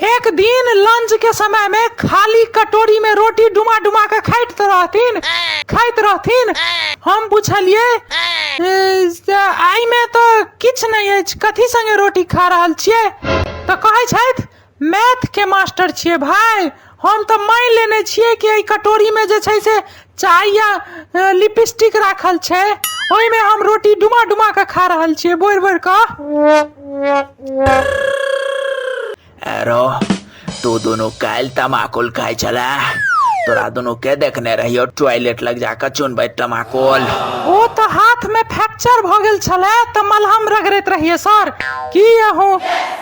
एक दिन लंच के समय में खाली कटोरी में रोटी डुमा डुमा के खाइत रहथिन खाइत रहथिन हम पूछलिए "ए, से आइ में तो किछ नहीं अछि कथी संगे रोटी खा रहल छिए तो कहै छथि मैथ के मास्टर छिए भाई हम तो मान लेने छिए कि एहि कटोरी में जे छै से चाय या अ, लिपस्टिक राखल छै ओहिमे हम रोटी डुमा डुमा कऽ खा रहल छियै बोरि बोरि कऽ एरो तू दोनों काल्हि तमाकुल खाइ छले तोरा दोनों के देखने रहियो टॉयलेट लग जाकर चुनबै तमाकुल ओ तऽ हाथमे फ्रैक्चर भऽ गेल छलै तऽ मलहम रगड़ैत रहियै सर की अहूँ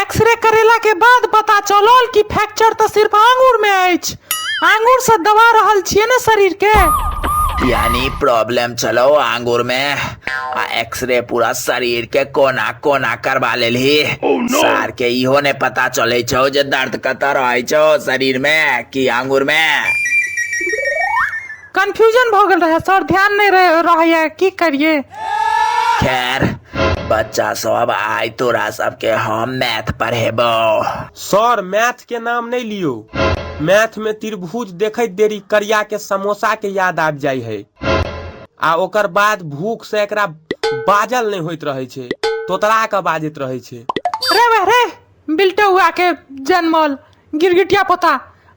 एक्सरे करेला के बाद पता चलल कि फ्रैक्चर तो सिर्फ आंगूर में अछि आंगूर से दबा रहल छियै ने शरीर के यानी प्रॉब्लम चलो आंगूर में आ एक्सरे पूरा शरीर के कोना कोना करवा लेली सार के इहो ने पता चले छो जे दर्द कतऽ रहे छो शरीर में कि आंगूर में कंफ्यूजन भऽ गेल रहे सर ध्यान नहि रहे रहैया की करिए खैर बच्चा सब आइ तोरा सबके हम मैथ पढ़ेबो सर मैथ के नाम नहीं लियो मैथ में त्रिभुज देखत देरी करिया के समोसा के याद आबि जाइ है आ ओकर बाद भूख से एकरा बाजल नहीं होइत रहे छे तोतरा के बाजैत रहे छे रे वा रे बिल्टो हुआ के जनमल गिरगिटिया पोता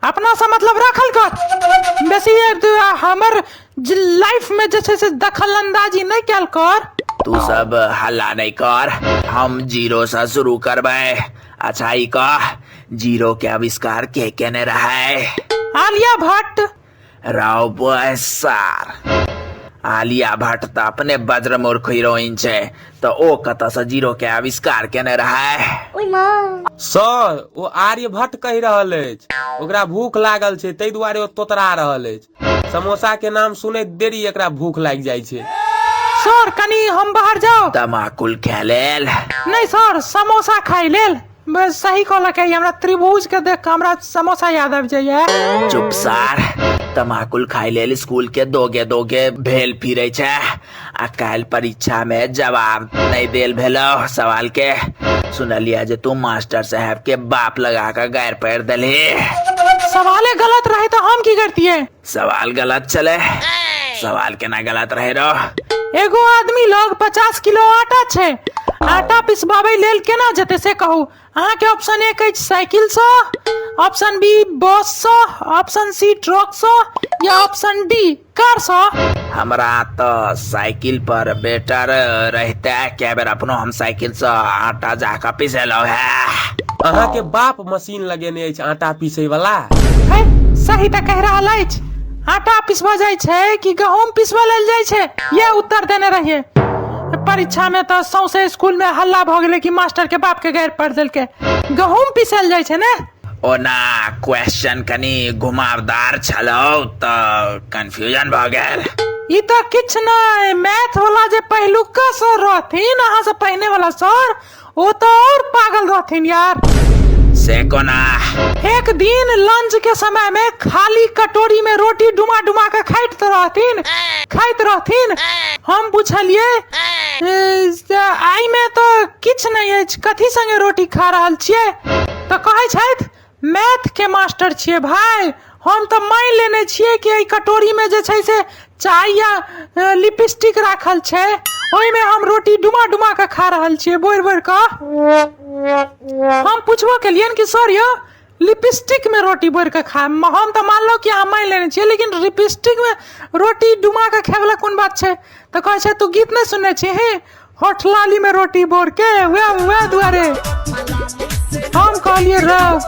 अपना से मतलब राखल कर बेसी एक दू आ हमर जे लाइफ में जे छै से दखल अंदाजी नहीं कैल कर तू सब हल्ला नहीं कर हम जीरो से शुरू करबे अच्छा ई कह जीरो के आविष्कार के केने रहे आलिया भट्ट राव बॉय सार आलिया भट्ट तऽ अपने वज्रमूर्ख हीरोइन छै तऽ ओ कतऽसँ जीरो के आविष्कार केने रहै सर ओ आर्यभट्ट कहि रहल अछि ओकरा भूख लागल छै ताहि दुआरे ओ तोतरा रहल अछि समोसा के नाम सुनैत देरी एकरा भूख लागि जाइ छै सर कनी हम बाहर जाओ तमाकुल के लेल नहि सर समोसा खाइ लेल बे सही कहलक है हमरा त्रिभुज के देख के हमरा समोसा याद आबि जाइए चुप सार तमाकुल खाय लेल स्कूल के दोगे दोगे भेल फिरे छै आ काल्हि परीक्षा में जवाब नहीं देल भेलो सवाल के सुनलिया जे तू मास्टर साहब के बाप लगा के गायर पैर देलही सवाले गलत रहे तो हम की करतिए सवाल गलत चले सवाल केना गलत रहे रो एगो आदमी लग पचास किलो आटा छै आटा पिसबाबै लेल केना जेतै से कहू अहाँके ऑप्शन एक अछि साइकिलसँ ऑप्शन बी बससँ ऑप्शन सी ट्रकसँ या ऑप्शन डी कारसँ हमरा तो साइकिल पर बेटर रहते क्या बेर अपनो हम साइकिल से आटा जाकर पिसेलो है अहाँ के बाप मसीह मशीन लगेने अछि आटा पीसै वाला है सही तऽ कहि रहल अछि आटा पिसबऽ जाइ छै कि गहूम पिसबऽ लेल जाइ छै ये उत्तर देने रहिए परीक्षा में तऽ सौंसे स्कूल में हल्ला भऽ गेलै कि मास्टर के बाप के गारि पढ़ देलकै गहूम पिसल जाइ छै ने ओना क्वेश्चन कनि घुमावदार छलौ तऽ कंफ्यूजन भऽ गेल ई तऽ किछु नहि मैथ वाला जे पहिलुका सर रहथिन अहाँ से पहिने वाला सर ओ तो और पागल रहथिन यार से कोना एक दिन लंच के समय में खाली कटोरी में रोटी डुमा डुमा के खाइत रहथिन खाइत रहथिन हम पूछलिए "ए, से आई में तो किछ नहीं अछि कथी संगे रोटी खा रहल छिए तो कहै छथि मैथके मास्टर छियै भाय हम तऽ मानि लेने छियै कि एहि कटोरीमे जे छै से चाय या अ, लिपस्टिक राखल छै ओहिमे हम रोटी डुमा डुमा कऽ खा रहल छियै बोरि बोरि कऽ हम पूछबो केलियन कि सर यौ लिपस्टिक में रोटी बोर के खाए म- हम तऽ मानलहुँ कि अहाँ मानि लेने छियै लेकिन लिपस्टिक में रोटी डुमा के खाए वाला कोन बात छै तऽ कहै छै तू गीत नहि सुनने छी हे होठ लाली में रोटी बोर के हुआ हुआ दुआरे हम कहलिए राव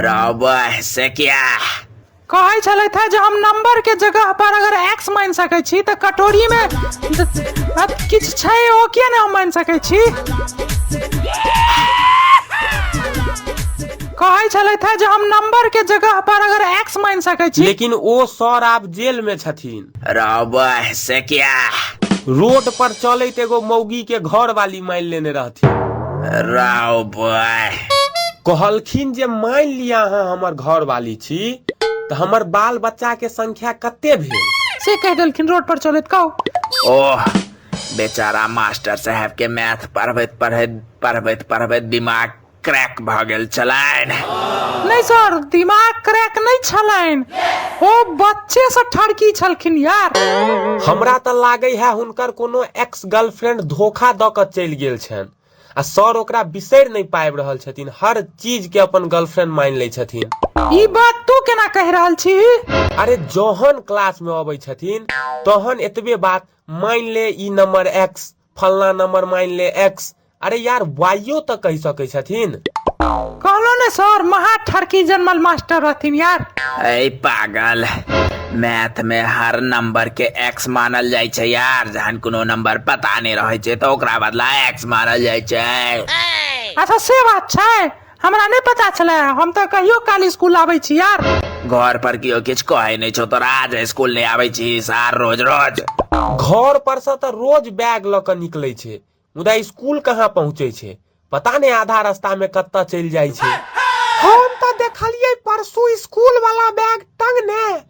रबह से क्या कहै छलै था जे हम नंबर के जगह पर अगर एक्स मान सकै छी तऽ कटोरी में किछु छै ओ किया ने हम मान सकै छी कहै छलै था जे हम नंबर के जगह पर अगर एक्स मान सकै छी लेकिन ओ सर आब जेल में छथिन रबह से क्या रोड पर चलैत एगो मौगी के घर वाली मानि लेने रहथिन रबह कहलखिन जे मानि लिया अहाँ हमर घर वाली छी तऽ हमर बाल बच्चा के संख्या कते भेल से कह देलखिन रोड पर चलैत कहू ओह बेचारा मास्टर साहब के मैथ पढ़बैत पढ़बैत पढ़बैत पढ़बैत दिमाग क्रैक भऽ गेल छलनि नहि सर दिमाग क्रैक नहि छलनि ओ बच्चे से ठरकी छलखिन यार हमरा तऽ लागै है हुनकर कोनो एक्स गर्लफ्रेंड धोखा दऽ कऽ चलि गेल छनि आ सर ओकरा बिसरि नहि पाबि रहल छथिन हर चीज के अपन गर्लफ्रेंड मानि लै छथिन ई बात तू केना कहि रहल छी अरे जहन क्लास में अबै छथिन तहन एतबे बात मानि ले ई नंबर एक्स फलना नंबर मान ले एक्स अरे यार वाइयो तो कह सके छथिन कहलो ने सर महा ठरकी जनमल मास्टर रहथिन यार ऐ पागल मैथ में हर नंबर के एक्स मानल जाय छै यार जहन कोनो नंबर पता नहीं रहे छै तो ओकरा बदला एक्स मानल जाय छै अच्छा से बात छै हमरा नहि पता छले हम तऽ कहियो काल स्कूल आबै छी यार घर पर केओ किछु कहै नहि छौ तोरा आज स्कूल नहि आबै छी सार रोज रोज घर पर से तऽ रोज बैग लऽ कऽ निकलै छै मुदा स्कूल कहाँ पहुँचै छै पता नहि आधा रास्ता में कतऽ चलि जाइ छै हम तऽ देखलियै परसू स्कूल वाला बैग टंगने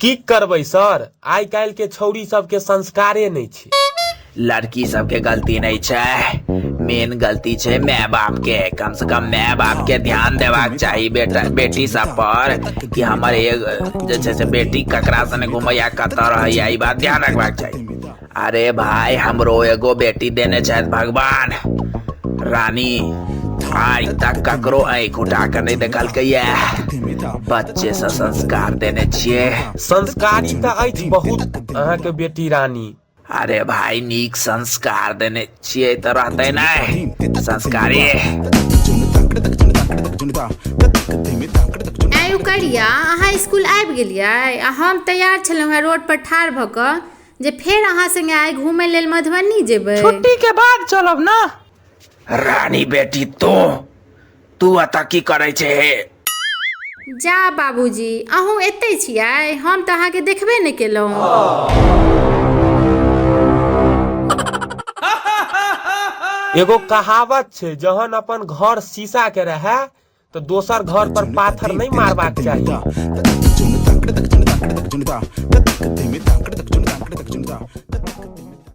कि करबै सर, आइ काल्हि के छौड़ी सब के संस्कारे नै छै। लड़की सब के गलती नै छै, मेन गलती छै माय बाप के। कम से कम माय बाप के ध्यान देबाक चाही बेटा बेटी सब पर कि हमर एक जे छै से बेटी ककरा संगे घुमैया कतऽ रहैया ई बात ध्यान रखबाक चाही। अरे भाई हमरो एगो बेटी देने छथि भगवान रानी आइ तक ककरो आँख उठा के नहीं देखलकै ये बच्चे से संस्कार देने छिए संस्कारी तऽ अछि बहुत अहाँके बेटी रानी अरे भाई नीक संस्कार देने छिए तऽ रहतै नहि संस्कारी आइ उकरिया अहाँ स्कूल आबि गेलियै आ हम तैयार छलहुँ हेँ रोडपर ठाढ़ भऽ कऽ जे फेर अहाँ संगे आइ घूमय लेल मधुबनी जेबै छुट्टी के बाद चलब ना रानी बेटी तो तू अतः की करे छे हे जा बाबूजी अहूँ एतै छियै हम तऽ अहाँके देखबे नहि केलहुँ एगो कहावत छै जहन अपन घर शीशा के रहे तऽ दोसर घर पर पाथर नहि मारबाक चाही